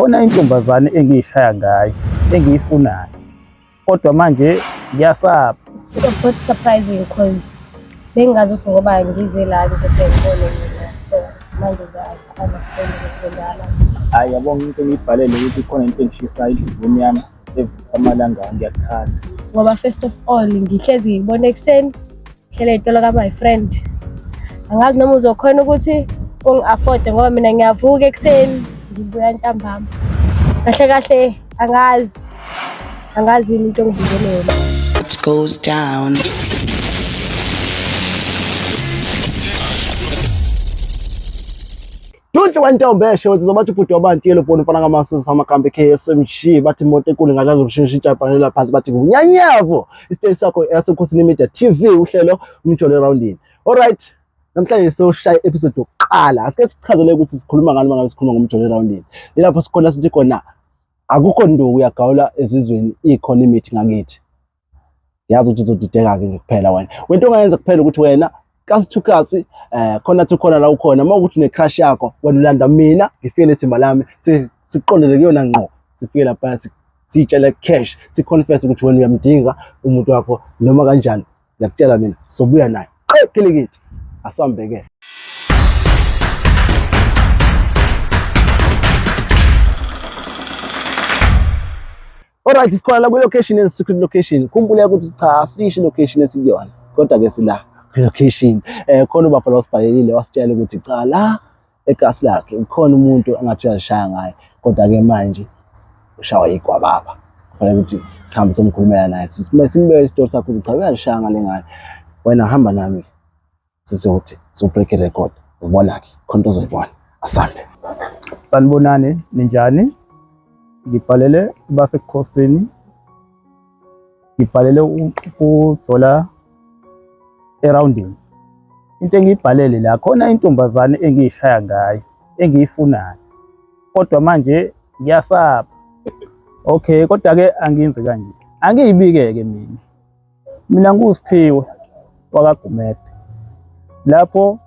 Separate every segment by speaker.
Speaker 1: Khona intombazane engiyishaya ngayo engiyifunayo kodwa manje ngiyasaba. It's a bit
Speaker 2: surprising because bengazi ukuthi ngoba ngize la ngizobheka ngibone mina so manje ngiyakhona ukuzodlala. Hayi yabo into
Speaker 1: engiyibhalele ukuthi khona into engishisayo idlizini yami evutha amalanga ngiyakuthanda. Ngoba first of
Speaker 2: all ngihlezi ngibona ekuseni hlela itolo ka my friend angazi noma uzokhona ukuthi ungi-afode ngoba mina ngiyavuka ekuseni ngibuya ntambama kahle kahle angazi angazi yini into engibizele yona it goes
Speaker 3: down
Speaker 4: Dunhle wentombi esho ukuthi zobathi ubhuti wabantu yelo bhoni mfana kamasu samakambe KSMG bathi imoto enkulu ngalazo ukushintsha ijabhanela phansi bathi kunyanyavo isiteshi sakho yasekhosini media TV uhlelo umjolo roundini all right namhlanje soshaya episode yokuqala asike sichazele ukuthi sikhuluma ngani mangabe sikhuluma ngomjolo roundini ilapho sikhona sithi khona akukho nduku uyagawula ezizweni ikhona imithi ngakithi yazi ukuthi uzodideka-ke kuphela wena wento ongayenza kuphela ukuthi wena kasi to kasi eh khona to khona la ukhona uma ukuthi ne-crush yakho wena ulanda mina ngifike ithimba lami siqondele kuyona ngqo sifike lapha siyitshele cash siconfess ukuthi wena uyamdinga umuntu wakho noma kanjani ngiyakutshela mina sobuya naye qekilikiti asambeke Alright, sikhona la kwi-location and secret location. Khumbula ukuthi cha asisho location esikuyona. Kodwa ke sila location. Eh khona ubafo la usibhalelile wasitshela ukuthi cha la egasi lakhe ukhona umuntu angathi uyashaya ngaye. Kodwa ke manje ushawa igwa baba. Kufanele ukuthi sihambe somkhulumela naye. Sisimbe simbeke isitori sakho ukuthi cha uyashaya ngale ngane. Wena hamba nami. sisi uthi so break a record ubona ke khonto zoyibona asambe sanibonani
Speaker 1: ninjani ngibhalele basekhosini ngibhalele ukujola eroundini into engiyibhalele la khona intombazane engiyishaya ngayo engiyifunayo kodwa manje ngiyasaba okay kodwa ke angenzi kanje angiyibike ke mina Mina nguSiphiwe wakaGumede lapho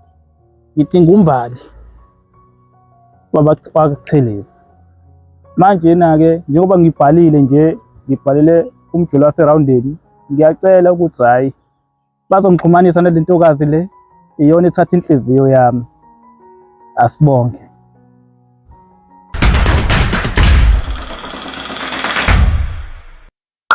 Speaker 1: ngitingumbali wabakuThelezi manjena-ke njengoba ngibhalile nje ngibhalele umjolo waserhawundeni ngiyacela ukuthi hhayi bazongixhumanisa nale ntokazi le iyona ethatha inhliziyo yami asibonge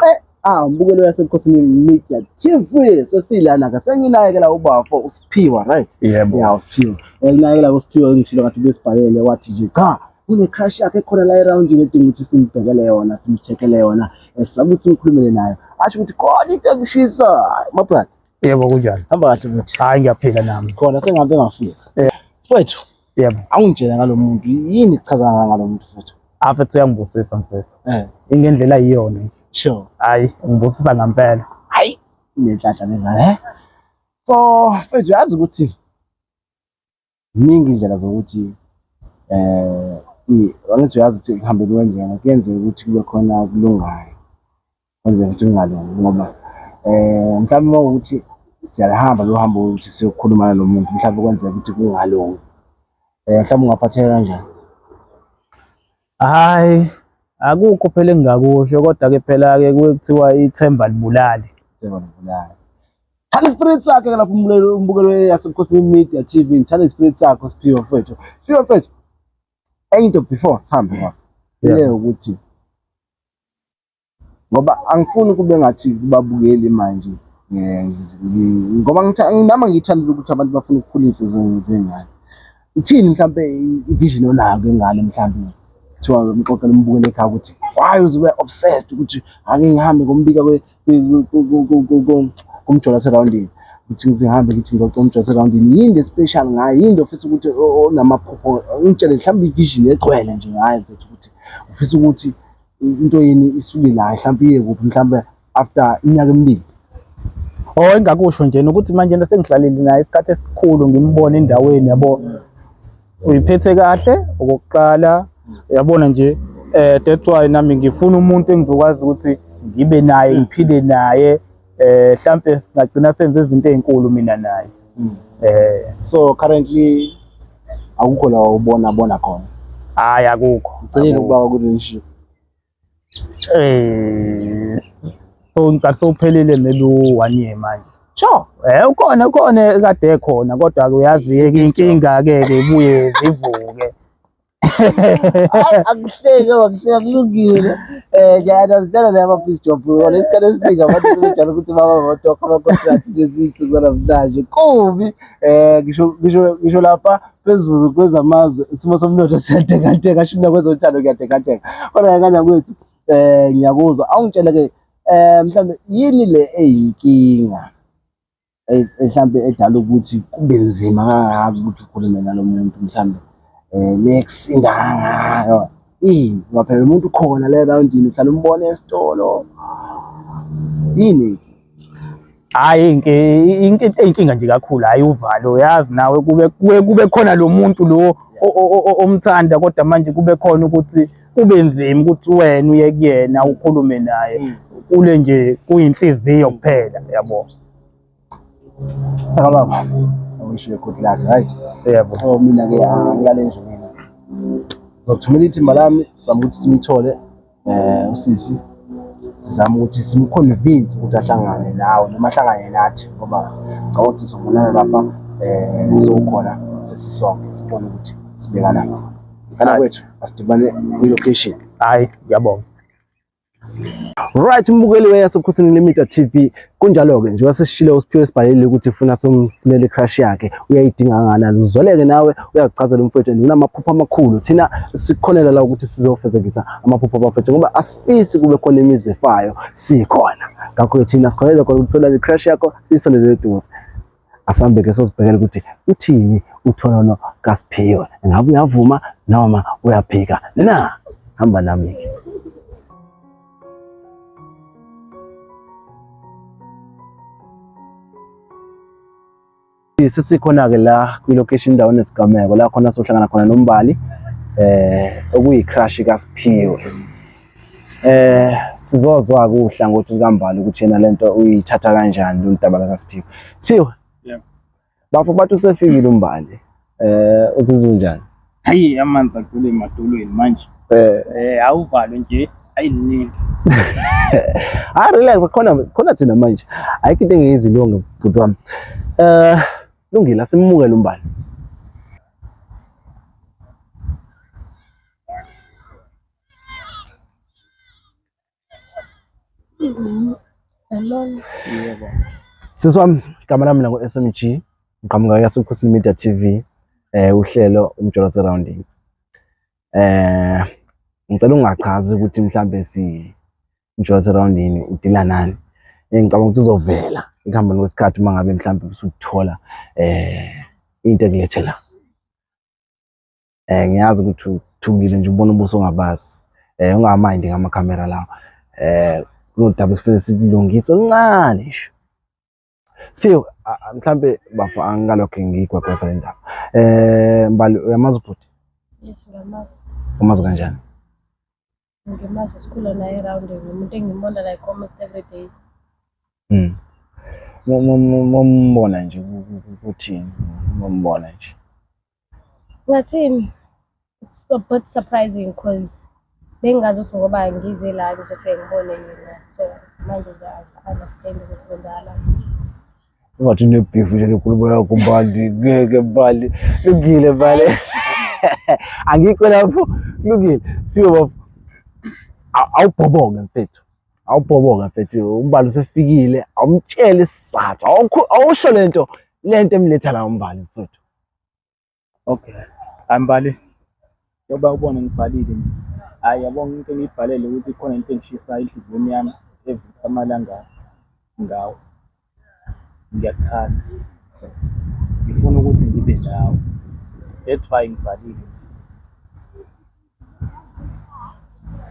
Speaker 4: qe ah umbukelo yasebukhosini media TV sesilana ke senginayekela ubafo usiphiwa right yebo yeah usiphiwa nginayekela usiphiwa ngishilo ngathi besibhalele wathi nje cha kune crush yakhe khona la around yini edinga ukuthi simbhekele yona simcheckele yona esakuthi ngikhulumele nayo asho ukuthi khona into ekushisa my brother yebo kunjani hamba
Speaker 1: kahle mfethu hayi
Speaker 4: ngiyaphila nami
Speaker 1: khona sengabe ngafika
Speaker 4: eh, mfethu yebo awungitshela
Speaker 1: ngalomuntu
Speaker 4: yini kuchaza ngalomuntu futhi afethu ah, uyangibusisa
Speaker 1: mfethu eh ingendlela
Speaker 4: iyona nje
Speaker 1: sure hayi
Speaker 4: ngibusisa
Speaker 1: ngempela hayi
Speaker 4: nenhlanhla lena eh so mfethu yazi ukuthi ziningi indlela zokuthi eh angithi uyazi ukuthi kuhambela kwendlela kuyenzeka ukuthi kube khona okulungayo Kwenzeka ukuthi kungalungi ngoba um mhlawumbe uma ukuthi siyalihamba lo hambo ukuthi siyokhuluma nalo muntu mhlawumbe kwenzeka ukuthi kungalungi um mhlawumbe ungaphatheka kanjani hhayi
Speaker 1: akukho phela engingakusho kodwa-ke phela-ke kuke kuthiwa ithemba libulali ithemba libulali
Speaker 4: Thanda ispirit sakhe ke lapho umbukelo umbukelo yasebukhosini media TV ngithanda ispirit sakho siphiwe mfethu siphiwe mfethu enye into before sihambe lapho ile ukuthi ngoba angifuni kube ngathi kubabukeli manje ngoba nami angiyithandile ukuthi abantu bafuna ukukhula iy'nhliziyo zey'ngane ithini mhlawumpe i-vision onayo kwengane mhlawumpe kuthiwa umxoxela umbukele ekhaya ukuthi why uze ube obsessed ukuthi ake ngihambe ngombika kumjola serawundini ukuthi ngizihambe ngithi ngiyoca umjola serawundini yini le special ngayo yini le ofisa ukuthi onamaphupho ngitshele mhlawumbe i-vision egcwele nje ngayo ukuthi ufisa ukuthi into yini isuke la mhlawumbe iye kuphi mhlawumbe after iminyaka emibili or oh,
Speaker 1: engakusho nje nokuthi manje into sengihlalile naye isikhathi esikhulu ngimbone endaweni yabo uyiphethe kahle okokuqala yabona nje eh that's why nami ngifuna umuntu engizokwazi ukuthi ngibe naye ngiphile naye eh mhlambe singagcina senze izinto ezinkulu mina naye mm. eh
Speaker 4: so currently akukho la ubona bona khona
Speaker 1: hayi akukho ngicela ukuba ku relationship
Speaker 4: eh
Speaker 1: so ngicela sophelile maybe one year manje Sure. Eh
Speaker 4: ukhona ukhona
Speaker 1: kade ekhona kodwa ke uyazi ke inkinga ke ke ibuye zivuke.
Speaker 4: akuhleke wakuhleka kulungile um ngiyanazitela naye amabhizi job wona isikhathi esiningi abantu sebejala ukuthi baba batoka amakontrakt nezinto kwanamhlanje kubi um ngisho lapha phezulu kwezamazwe isimo somnotho siyatekateka asho mina kwezothando kuyatekateka kodwa yakanya kwethu um ngiyakuzwa awungitshele-ke um mhlawumbe yini le eyinkinga mhlawumbe edala ukuthi kube nzima kangaka ukuthi ukhulume nalo muntu mhlawumbe um eh, nekusinda kangaka yini ngoba phela umuntu ukhona le rawundini uhlala umbone esitolo yini
Speaker 1: hayi inkinga nje kakhulu hayi uvalo yazi nawe kube kube khona lo muntu lo omthanda kodwa manje kube khona ukuthi kube nzima ukuthi wena uye kuyena ukhulume naye mm. kule nje kuyinhliziyo kuphela yabo
Speaker 4: Akababa. I wish you good luck, right? Yebo. So mina
Speaker 1: ke
Speaker 4: ngiyale ah, ndlini. Zokuthumela ithimba lami sizama ukuthi simthole eh usisi sizama ukuthi simconvince ukuthi ahlangane nawe noma ahlangane nathi ngoba ngicabanga ukuthi sizobonana lapha eh sokhona sesisonke sibone ukuthi sibekana ngani. Kana kwethu asidibane kwi-location. Hayi, ngiyabonga.
Speaker 1: Right
Speaker 4: mbukeli weyasebukhosini Limita TV kunjalo-ke njengoba sesishile usiphiwe esibhalelile ukuthi funa somfunele i-crush yakhe uyayidinga kanganani uzoleke nawe uyazichazela umfowethu and unamaphupho amakhulu thina sikhonela la ukuthi sizofezekisa amaphupho abafethu ngoba asifisi kube khona imizi efayo sikhona ngakho-ke thina sikhonelela khona ukuthi solale i-crush yakho siyisondele eduze asambe ke sozibhekela ukuthi uthini utholono kaSiphiwe ngabe uyavuma noma uyaphika na hamba nami ke sesikhona-ke la kwi-location indawo nesigameko la khona sohlangana khona nombali eh okuyi-crush kaSiphiwe eh sizozwa kuhla ngothi likambali ukuthi yena lento uyithatha kanjani loludaba laka Siphiwe Siphiwe yeah
Speaker 1: bafo bathi
Speaker 4: usefikile umbali eh uzizwa njani hayi amanzi
Speaker 1: agcwele emadolweni manje eh eh awuvalwe nje ayiningi hayi
Speaker 4: relax khona khona thina manje ayikho into engiyizilonge bhuti wami eh lungile asimukele umbali
Speaker 2: Yebo.
Speaker 1: Sisi
Speaker 4: wami igama lami nango SMG ngiqhamuka yasebukhosini Media TV eh uhlelo umjolo surrounding. Eh ngicela ungachazi ukuthi mhlambe si umjolo surrounding udila nani. Eh, ngicabanga ukuthi uzovela ekuhambeni kwesikhathi uma ngabe mhlambe usuthola eh into ekulethela. eh ngiyazi ukuthi uthukile nje ubona ubuso ongabazi eh ungamindi ngama camera lawo eh kunodaba sifuna silungise uncane nje Siphiwe mhlambe bafa angikalokho ngiyigwagwesa le ndaba eh mbali uyamazi ubhuti yes
Speaker 2: uyamazi umazi kanjani Ngimazi sikhula naye around ngumuntu engimbona like almost every day.
Speaker 4: Mm. Mumbona nje kuthini? Mumbona nje.
Speaker 2: Ngathini? It's a bit surprising because bengazi ukuthi ngoba ngize la ngizofike ngibone yena so manje ngiyazi understand ukuthi kwenzakala.
Speaker 4: Ungathi unebhifu nje nenkulumo yakho Mbali, ngeke Mbali. Lungile Mbali. Angikho lapho. Lungile. Siphiwe bafo. Awubhoboke mfethu. Awubhoboke mfethu. Umbali usefikile. Awumtshele isizathu. Awusho lento lento emletha la umbali mfethu.
Speaker 1: Okay. Angibhali. Njengoba ubona ngibhalile nje. Hhayi yabo into engiyibhalele ukuthi khona into engishisayo enhliziyweni yami evutha amalanga ngawo. Ngiyakuthanda. Ngifuna ukuthi ngibe nawe. That's why ngibhalile nje.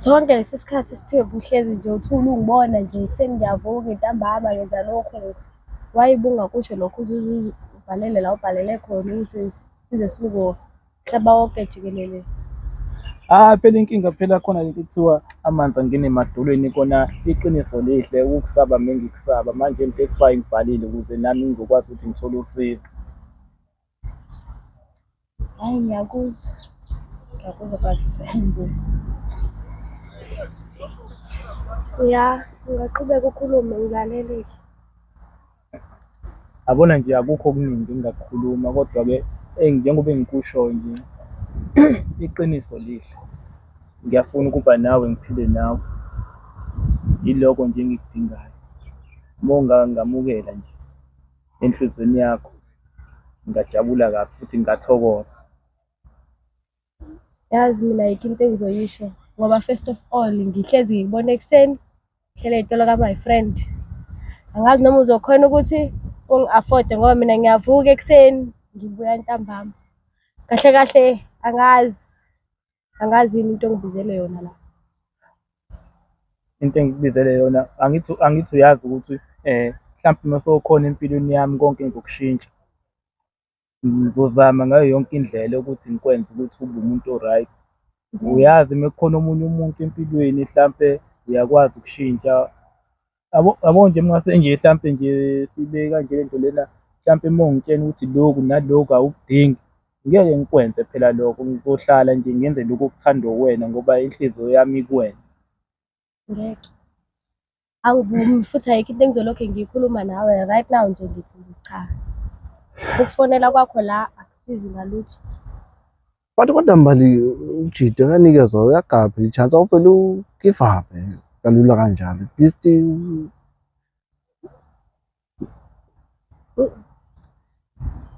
Speaker 2: Sonke lesi sikhathi siphiwe buhlezi nje uthule ungibona nje ekuseni ngiyavuka ntambama ngenza lokhu why bungakusho lokho uzibhalele la ubhalele khona ukuthi size sibuko mhlaba wonke jikelele Ah
Speaker 1: phela inkinga phela khona lento kuthiwa amanzi angene emadolweni kona iqiniso lihle ukukusaba mina ngikusaba manje into ekuthiwa ngibhalile ukuze nami ngizokwazi ukuthi ngithole usizo. Hayi
Speaker 2: ngiyakuzwa. Ngiyakuzwa but angibuyi. Ya, ungaqhubeka ukhulume ngilalelile.
Speaker 1: Yabona nje akukho okuningi engingakukhuluma kodwa-ke eyi njengoba engikusho nje iqiniso lihle. Ngiyafuna ukuba nawe ngiphile nawe. Yiloko nje engikudingayo. Uma ungangamukela nje. enhlizweni yakho ngingajabula kabi futhi ngingathokoza
Speaker 2: yazi mina ayikho into engizoyisho ngoba first of all ngihlezi ngikubona ekuseni ngihlele itolo ka my friend angazi noma uzokhona ukuthi ungi-afforde ngoba mina ngiyavuka ekuseni ngibuya ntambama kahle kahle angazi angazi yini into engibizele yona la
Speaker 1: into engikubizele yona angithi angithi uyazi ukuthi eh mhlawumbe uma sewukhona empilweni yami konke ngizokushintsha ngizozama ngayo yonke indlela ukuthi ngikwenze ukuthi ube umuntu o-right uyazi uma kukhona omunye umuntu empilweni mhlampe uyakwazi ukushintsha yabo yabo nje mase nje hlampe nje sibe kanje lento lena hlampe uma ungitshena ukuthi lokhu nalokhu awukudingi ngeke ngikwenze phela lokho ngizohlala nje ngenze lokhu okuthandwa uwena ngoba inhliziyo yami ikuwena ngeke
Speaker 2: angivumi futhi ayikho into engizolokhu ngiyikhuluma nawe right now nje ngithi cha ukufonela kwakho la akusizi ngalutho But
Speaker 4: kodwa mbali ujide kanikezwa uyagabha ichance awuvele ugive up eh, kalula kanjalo. At least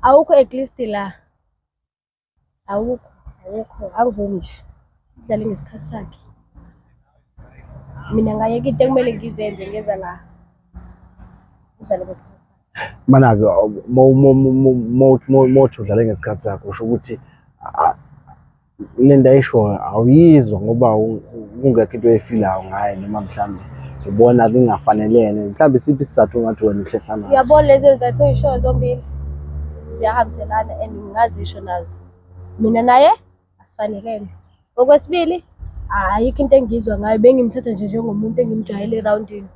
Speaker 2: awukho at least la awukho awukho angivumi nje udlale ngesikhathi sakhe mina ngayeka into ekumele ngizenze ngeza la udlale ngesikhathi Mana-ke
Speaker 4: mothi udlale ngesikhathi sakho usho ukuthi le nto ayishoyo awuyizwa ngoba kungekho into efilayo ngaye noma mhlawumbe ubona kungafanelene mhlawumbe siphi isizathu ongathi wena uhlehla naso uyabona lezi zizathu
Speaker 2: oyishoyo zombili ziyahambiselana and ngingazisho nazo mina naye asifanelene okwesibili ayikho into engizwa ngayo bengimthatha nje njengomuntu engimjwayele erawundini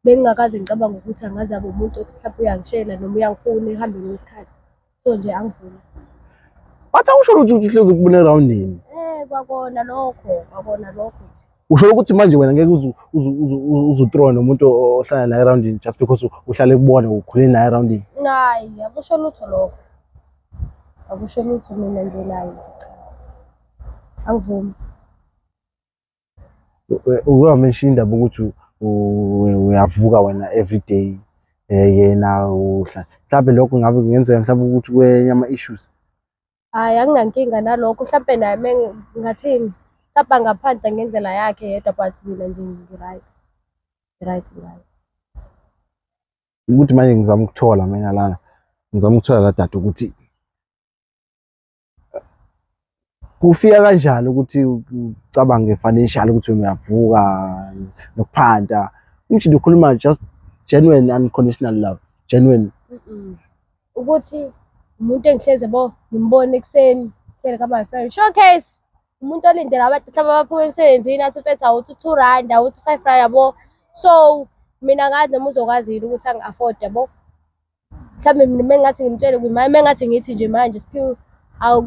Speaker 2: Bengingakaze ngicabange ukuthi angaze abe umuntu othi mhlawumbe uyangishela noma uyangifuna ekuhambeni kwesikhathi. So nje angivumi. Bathi
Speaker 4: awusho ukuthi uhlezi ukubona erawundini. Eh kwakona
Speaker 2: lokho, kwakona lokho. Usho
Speaker 4: ukuthi manje wena ngeke uzutrone nomuntu ohlala naye erawundini just because uhlale kubona ukhule naye erawundini. Hayi, akusho
Speaker 2: lutho lokho. Akusho lutho mina nje naye. Angivumi.
Speaker 4: uyowa mention indaba ukuthi uyavuka wena every day eh, yena uhla mhlawumbe lokho ngabe kungenzeka mhlawumbe ukuthi kwenye ama-issues hhayi
Speaker 2: anginankinga nalokho mhlawumbe naye me ngathini mhlawumbe angaphandle ngendlela yakhe yedwa but mina nje ngi-right right right
Speaker 4: ukuthi manje ngizama ukuthola mina lana ngizama ukuthola la data ukuthi kufika kanjani ukuthi ucabange financial ukuthi uyavuka nokuphanda uthi ukhuluma just genuine unconditional love genuine
Speaker 2: ukuthi umuntu engihleze bo ngimbone ekuseni hlele ka my friend showcase umuntu olindele abantu mhlawumbe abaphuma emsebenzini athi mfethu awuthi two rand awuthi five rand yabo so mina ngazi noma uzokwazi yini ukuthi angi-afford yabo mhlawumbe mina uma ngathi ngimtshele kumama uma ngathi ngithi nje manje siphiwe awu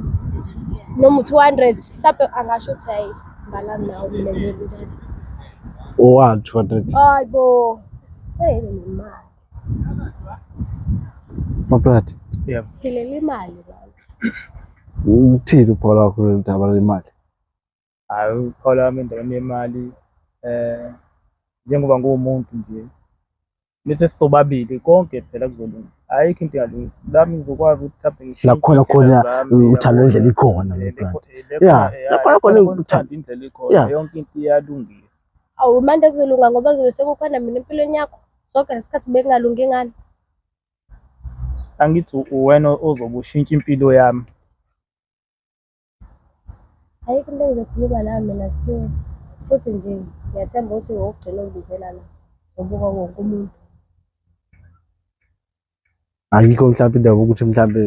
Speaker 2: noma u-two hundred mhlawumbe angasho ukuthi hayi ngalami nawo mina njenjani One, two
Speaker 4: hundred. hayi bo
Speaker 2: eyi nemali
Speaker 4: Maplati, Yeah. philele
Speaker 1: imali
Speaker 2: baba.
Speaker 4: uthini uphola wakho lolu daba lwemali? hhayi
Speaker 1: ukuthola wami endaweni yemali um njengoba nguwumuntu nje mese sisobabili konke phela kuzolunga ayikho into engalungisi lami ngizokwazi ukuthi mhlawumbe ngishintshe Lakhona khona, indlela
Speaker 4: zami, uh, uthando yabo. indlela ikhona, Eh, my brother. lekho- eh, lekho- Yeah, eh, lakhona khona lakhona uthando. uthando indlela ikhona
Speaker 1: Yeah. yonke into iyalungisa awu manje
Speaker 2: kuzolunga ngoba kuzobe sekukhona mina empilweni yakho soke ngesikhathi bekungalungi ngani
Speaker 1: angithi u- uwena ozobe ushintsha impilo yami
Speaker 2: Ayikho into engizokhuluma nayo mina Siphiwe, futhi nje ngiyathemba ukuthi wokugcina ungibizela la ngobuka wonke umuntu.
Speaker 4: Ayikho mhlawumbe indaba ukuthi mhlawumbe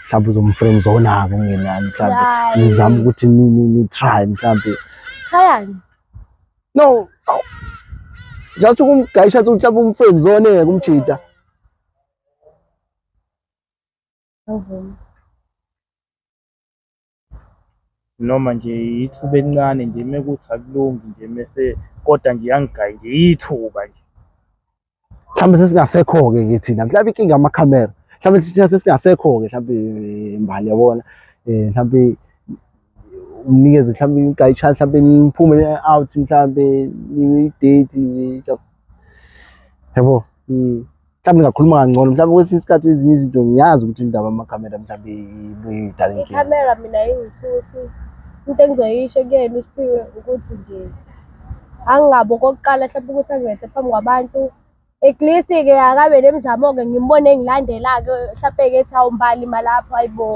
Speaker 4: mhlawumbe uzomfriend zonako ngenani mhlawumbe Hayi. nizama ukuthi ni ni ni try mhlawumbe Shayani.
Speaker 2: no
Speaker 4: aw. just ukumgayisha ukuthi mhlawumbe umfriend zone kumjita
Speaker 2: Awuvumi.
Speaker 1: noma nje ithuba elincane nje mekuthi akulungi nje mese kodwa nje yangigayi nje ithuba nje
Speaker 4: mhlawumbe sesingasekho-ke ke thina mhlawumbe inkinga amakhamera mhlawumbe thina sesingasekho-ke mhlawumbe mbali yabona um mhlawumbe umnikeze mhlawumbe inkayi chance mhlawumbe niphume out mhlawumbe i-date just yabo mhlawumbe ngakhuluma kangcono mhlawumbe kwesinye isikhathi ezinye izinto ngiyazi ukuthi indaba amakhamera mhlawumbe ibuyidala inkinga ikhamera mina ingithusi
Speaker 2: into engizoyisho kuyena usiphiwe ukuthi nje angingabo okokuqala mhlawumbe ukuthi angilethe phambi kwabantu at least-ke akabe nemizamo-ke ngimbone engilandela-ke mhlawumbe-ke ethi awumbali malapho ayibo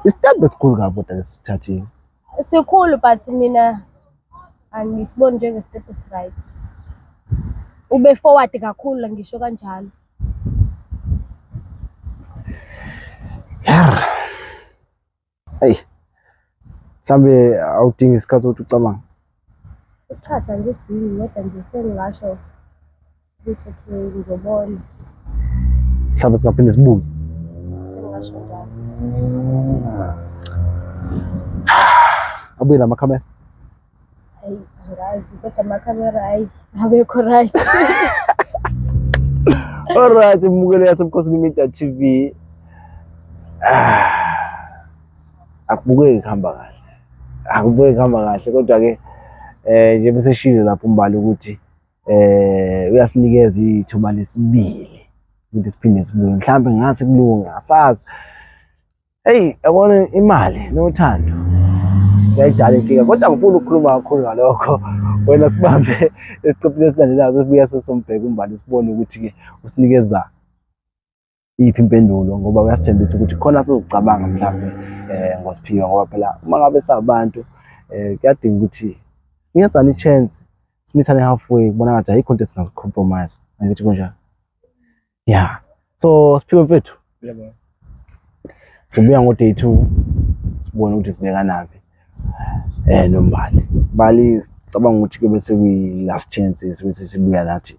Speaker 2: isitebhu
Speaker 4: esikhulu kabi kodwa lesi sithathile Sikhulu
Speaker 2: but mina angisiboni njenge-step esi-right. Ube forward kakhulu ngisho kanjalo.
Speaker 4: Yarr! Eyi! Mhlambe awudingi isikhathi ukuthi ucabange? Isikhathi
Speaker 2: angisidingi kodwa nje sengingasho mhlawumbe
Speaker 4: singaphinde sibuke abuye
Speaker 2: namakhamera
Speaker 4: Alright, mbukeli yaseBukhosini Media TV. Ah. Akubukeki kuhamba kahle. Akubukeki kuhamba kahle kodwa ke eh njengoba seshilo lapho umbali ukuthi eh uyasinikeza ithuba lesibili ukuthi siphinde sibuye mhlawumbe ngase kulunga asazi hey yabona imali nothando yayidala inkinga kodwa ngifuna ukukhuluma kakhulu ngalokho wena sibambe esiqephini esilandelayo sibuya sesombheka umbali sibone ukuthi-ke usinikeza iyiphi impendulo ngoba uyasithembisa ukuthi khona sizocabanga mhlawumbe eh ngosiphiwe ngoba phela uma ngabe sabantu eh kuyadinga ukuthi singenzani i-chance simithane halfway kubona ngathi ayikho into esingazicompromise angithi kunjalo ya so siphiwe mfethu sibuya ngo-day two sibone ukuthi sibekanaphi um eh, nombali bali cabanga ukuthi kube sekuyi-last chance esibe sesibuya nathi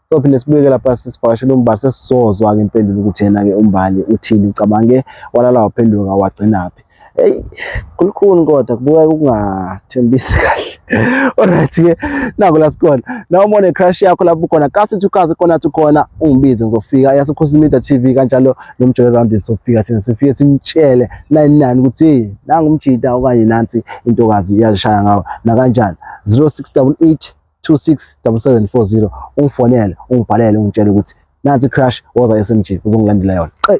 Speaker 4: sophinde sibuye lapha sisivakashela umbali sesizozwa-ke impendulo ukuthi yena-ke umbali uthini ucabange walala waphenduka wagcinaphi eyi kulukhuni kodwa kubukeka ukungathembisi kahle olright-ke nako la sikhona na uma une-crush yakho lapho ukhona kasithi ukazi khona athi ukhona ungibize ngizofika yasekhosini media t v kanjalo nomjolo round sizofika thina sifike simtshele nani nani ukuthi nangumjita okanye nansi intokazi iyazishaya ngawo nakanjani 0688 267740 ungifonele ungibhalele ungitshele ukuthi nansi crash woza SMG uzongilandela yona qe